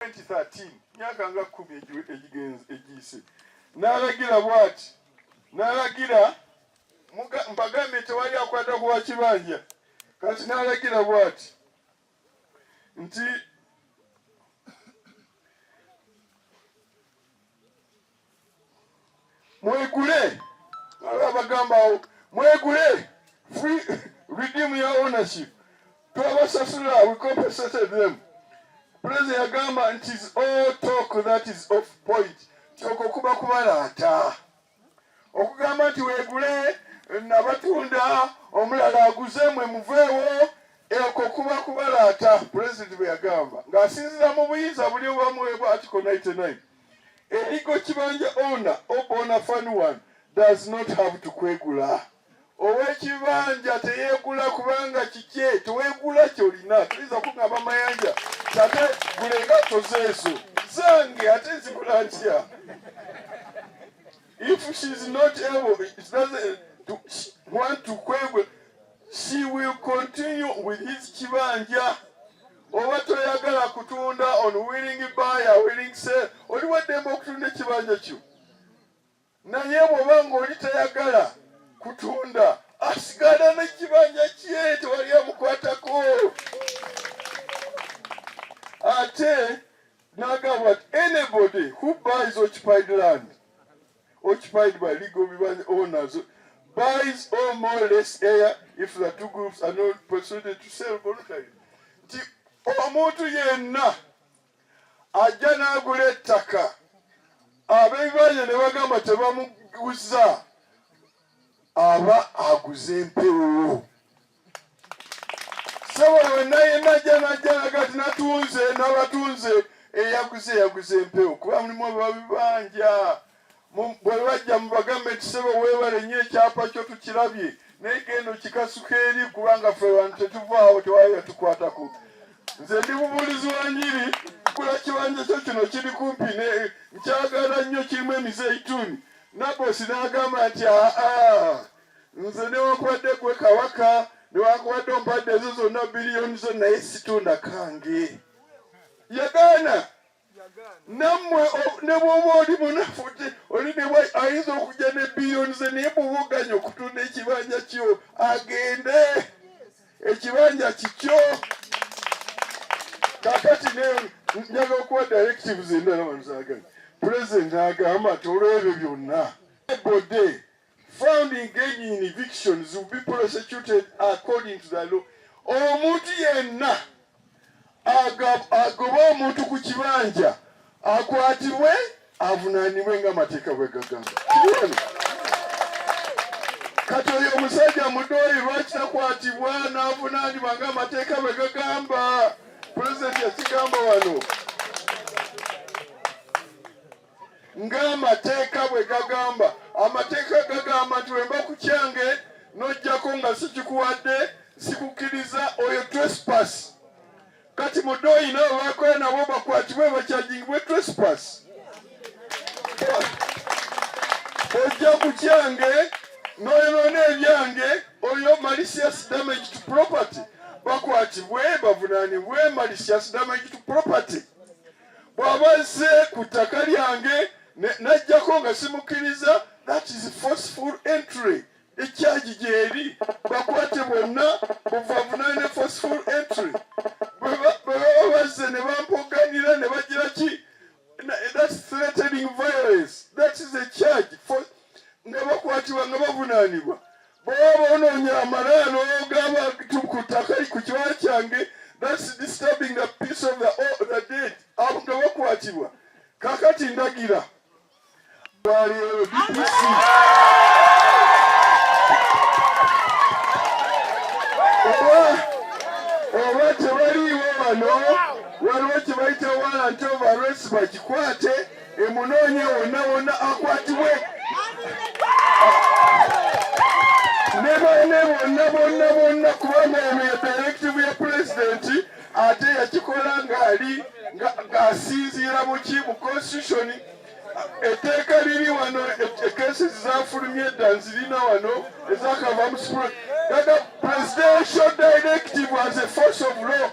2013 myaka nga kumi egiyise n'alagira bwati n'alagira mbagambye tewali akwata ku wakibanja kati n'alagira bwati nti mwegule abagambawo mwegule free redeem your ownership twabasasula we compensated them president yagamba nti is all talk that is off point kyoko kuba kubalaata okugamba nti wegule nabatunda omulala aguze mwe muveewo eko kuba kubalaata president bwe yagamba ng'asinzira mu buyinza buli obamuweebwa article 99 Erigo kibanja owner obona fan one does not have to kwegula. Owekibanja teyegula kubanga kikye tewegula kyolina tuliza kungamba mayanja tate gula engatto zeezo zange ate nzigula ntya if she is not able she doesn't to, want to kwegula she will continue with his kibanja oba toyagala kutunda on willing buyer willing sell oli waddembe okutunda ekibanja kyo naye bwoba ngaoli tayagala kutunda asigala nekibanja kye tewali amukwatako ate nagamba anybody who buys occupied land occupied by legal bibanja owners buys or more less air if the two groups are not persuaded to sell voluntarily nti omuntu yenna ajja n'agula ettaka ab'ebibanja ne bagamba tebamuguza aba aguze empewo sobola wenna yenna ajja najja nagati natunze nabatunze eyaguze yaguze empewo kuba mulimu ababibanja bwebajja mubagambe nti sebo webale nyo ekyapa kyo tukirabye naye genda okikasuka eri kubanga fe bantu tetuvaawo tewali yatukwatako nze ndi mubuulizi wa nyiri kula kibanja kyo kino kiri kumpi nkyagala nnyo kirimu emizeituni nabosi nagamba nti aa nze newakubadde gwe kabaka newakubadde ompadde ezo zonna biliyoni zo naye situna kange yagaana nammwe ne bwoba oli munafu ti oli nebwa ayinza okujja ne biliyoni ze naye bubuganya okutunda ekibanja kyo agende ekibanja kikyo kakati njaga okuwa directives endala wanzaganya pulezidenti agamba ti olwebyo byonna ebode found engaging in evictions will be prosecuted according to the law omuntu yenna agoba omuntu ku kibanja akwatibwe avunanibwe nga amateeka bwe gagamba kati oyo omusajja mudooyi lwaki takwatibwa n'avunanibwa nga amateeka bwe gagamba pulezidenti yakigamba wano ng'amateeka bwe gagamba amateeka gagamba nti wemba ku kyange n'ojjako nga sikikuwadde sikukkiriza oyo trespass kati mudoyi nabo bakola nabo bakwatibwe bakyajingibwe trespass ojja ku kyange noyonoona ebyange oyo malicious damage to property bakwatibwe bavunanibwe malicious damage to property bw'aba azze ku ttaka lyange n'ajjako nga simukkiriza that is forceful entry ekyagi gyeri bakwate bwonna buvavunaane forceful entry bwebaba bazze ne bampoganira ne bagira ki that's threatening violence that is a charge nga bakwatibwa nga bavunaanibwa Bw'oba onoonya amalaya n'ogaba ku ttaka ku kiwala kyange, that's disturbing the peace of the, oh, the dead. Abo nga bakwatibwa. Kakati ndagira. Bwaliyo DPC. Oba oba tebaliiwo wano waliwo kye bayita warrant of arrest bakikwate. emunoonye wonna wonna akwatibwe ne bane bonna bonna bonna kubanga eno ya directive ya pulezidenti ate yakikola ng'ali ng'asinziira mu ki mu constitution etteeka liri wano ekesi zafulumye dda nzirina wano ezakava mu sipula gaga presidential directive as a force of law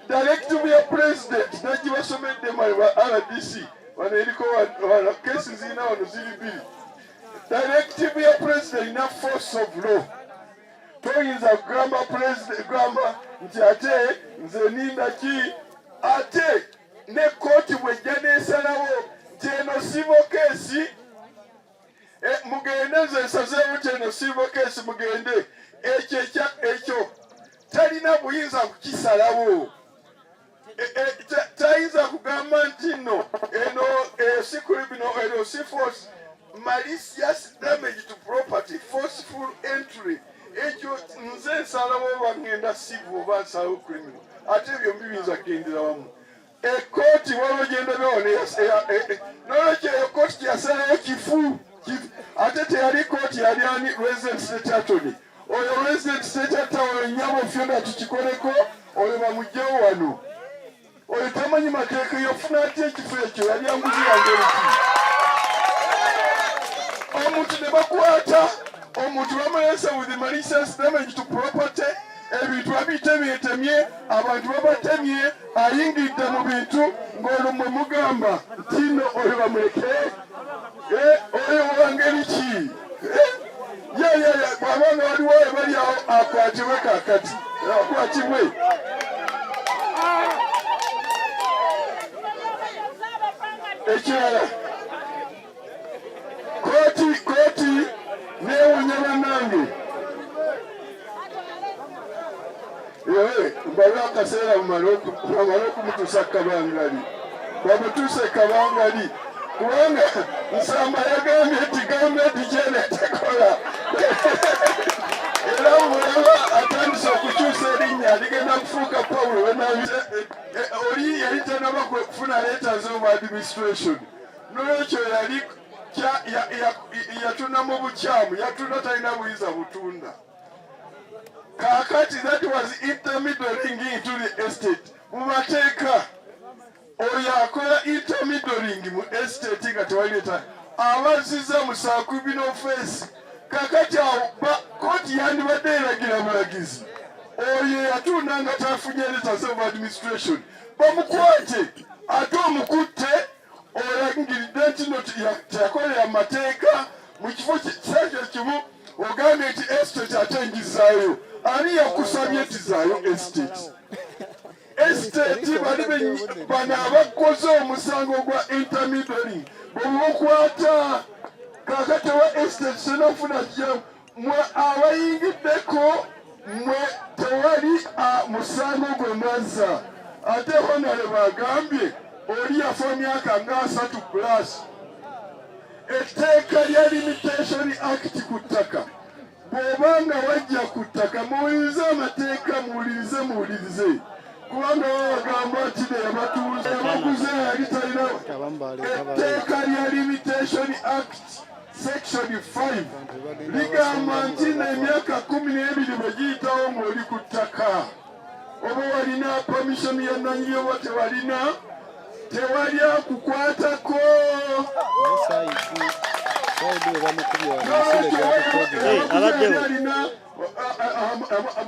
Direktivu ya Pulezidenti nagibasomedde mwe ba RDC wano eriko wano kesi zirina wano ziri bbiri. Direktivu ya Pulezidenti erina force of law. Toyinza kugamba Pulezidenti gamba nti ate nze ninda ki ate ne kkooti bwejja nesalawo nti eno sivo kesi eh, mugende nze nsazeewo nti eno sivo kesi mugende ekyo ekyo talina buyinza kukisalawo e, e, tayinza kugamba nti no eno esikulibino eno si force malicious damage to property forceful entry ekyo nze nsalawo oba ŋŋenda sivu oba nsalawo criminal ate ebyo mbibinza kugendera wamu ekkooti waliwo gyendabye wano nolwekyo eyo kkooti gyeyasalayo kifu ate teyali kkooti yali ani resident state attorney oyo resident state attorney nyabo fyona tukikoleko oyo bamugyewo wano oyo tamanyi mateeka yofuna ati ekifo ekyo yali anguzi yange oluki omuntu ne bakwata omuntu bamulesa with malicious damage to property ebintu babitemeetemye abantu babatemye ayingidde mu bintu ng'olwo mwe mugamba nti no oyo bamuleke eh, oyo wangeri ki eh, yeyeye bwaba nga waliwo ebali awo akwatibwe kakati akwatibwe ekirala Koti koti newunya banange mbale akaseera mumale okumutusa kabangali bamutuse kabangali kubanga nsamba yagambye nti gavumenti kyene tekola era mulaba atandise okukyusa erinnya ligenda kufuuka pawulo oli yali tanaba kufuna leeta z'omu administration nolwekyo yali yatunda mu bukyamu yatunda talina buyinza butunda kakati that was intermediating into the estate mu mateeka oyo akola intermediating mu estate nga tewalileta abaziza musakubina ofeesi kakati awo koti yandibadde eragira bulagizi oyo yatunda nga tafunye letters of administration bamukwate ate omukutte olangiridde nti no teyakolera mateeka mu kifo kisaakyo kimu ogambye nti estate ate njizaayo ani yakusabye nti zaayo estate estate bali bano abakoze omusango gwa intermidary bwemukwata kakati wa estate senafuna jamu mwe abayingiddeko mwe tewali musango gwe mwazza ate honale bwagambye oli yafa emyaka nga asatu plus etteeka lya limitation act ku ttaka bw'oba nga wajja ku ttaka muwulirize amateeka muwulirize muwulirize kubanga babagamba nti neyabatunze yabaguze yali talina etteeka lya limitation act Section 5 ligamba nti n'emyaka kumi n'ebiri bwe giyitawo ng'oli ku ttaka oba walina pamishoni ya nnanyini oba tewalina tewali akukwatako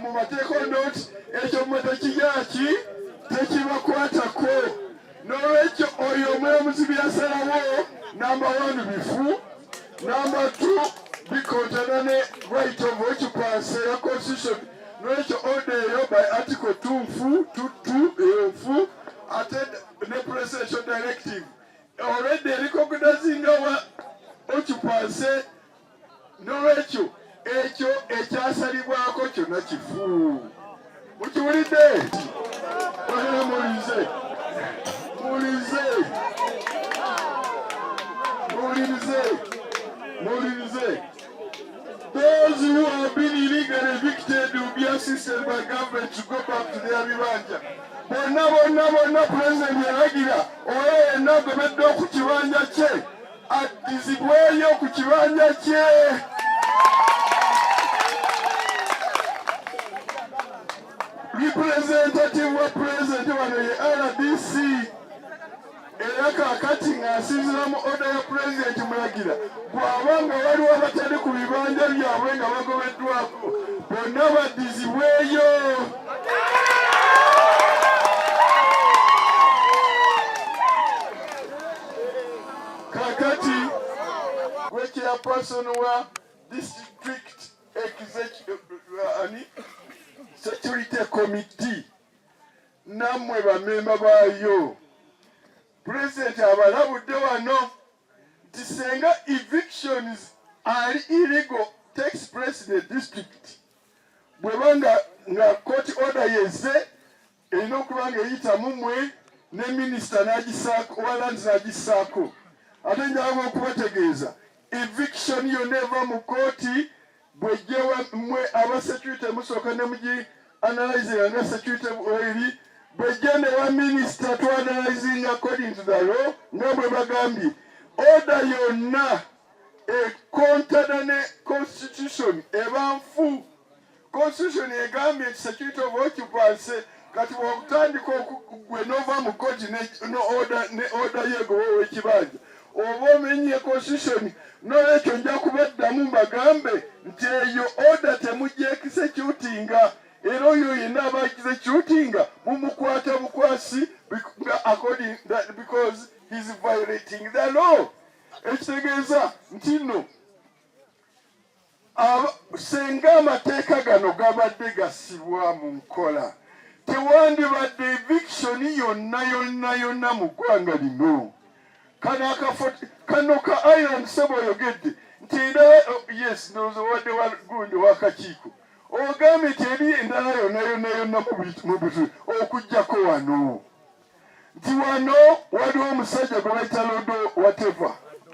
mu mateeka onoti ekyo mwe tekiyaki tekibakwatako N'olwekyo oyo omulamuzi bye yasalawo namba wani bifu, namba tu bikontana ne right of occupancy ya constitution. N'olwekyo oda eyo by article tu nfu tutu eyo nfu ate ne presidential directive already erikokudazinga wa occupancy nolwekyo ekyo ekyasalibwako kyona kifu mukiwulidde bagala muwulize muwulize muwulirize muwulirize those who have been illegally evicted will be assisted by government to go back to their bibanja bonna bonna bonna pulezidenti yalagira oyo yenna agobeddwa ku kibanja kye addizibweyo ku kibanja kye representative wa president wano ye rdc era kakati ng'asinzira mu oda ya pulezidenti mulagira bw'aba nga waliwo abatali ku bibanja byabwe nga bagobeddwako bonna baddizibweyo kakati gwe chairperson wa district executive ani security committee namwe bamemba baayo pulezidenti abalabudde wano nti senga evictions ali illegal takes place the district bweba nga nga court order yeze erina okuba nga eyita mu mmwe ne minisita n'agisaako owa landi n'agissaako ate njagala okubategeeza eviction yonna eva mu kkooti bwejjewa mmwe aba security musooka ne mugi analyzinga nga security eri bwejje ne wa minisita tu analyzinga according to the law nga bwe bagambye oda yonna ekontana ne constitution eba nfu Constitution egambye nti security of occupancy kati bwokutandika gwe nova mu koti ne oda yegoba owekibanja oba omenye constitution nolwekyo nja kubaddamu mbagambe nti eyo oda temujekisecutinga era oyo yenna aba ekizecutinga mumukwata bukwasi nga according that because he's violating the law ekitegeeza nti no Singa amateeka gano gabadde gasibwa mu nkola, tewandibadde eviction yonna yonna yonna mu ggwanga lino. Kano akafo kano ka Ireland sebo oyogedde nti endala oh, yes ndowooza wadde wagundi wakakiiko ogambye nti eri endala yonna yonna yonna mu butu okujjako wano nti wano waliwo omusajja gwe bayita lodo wateva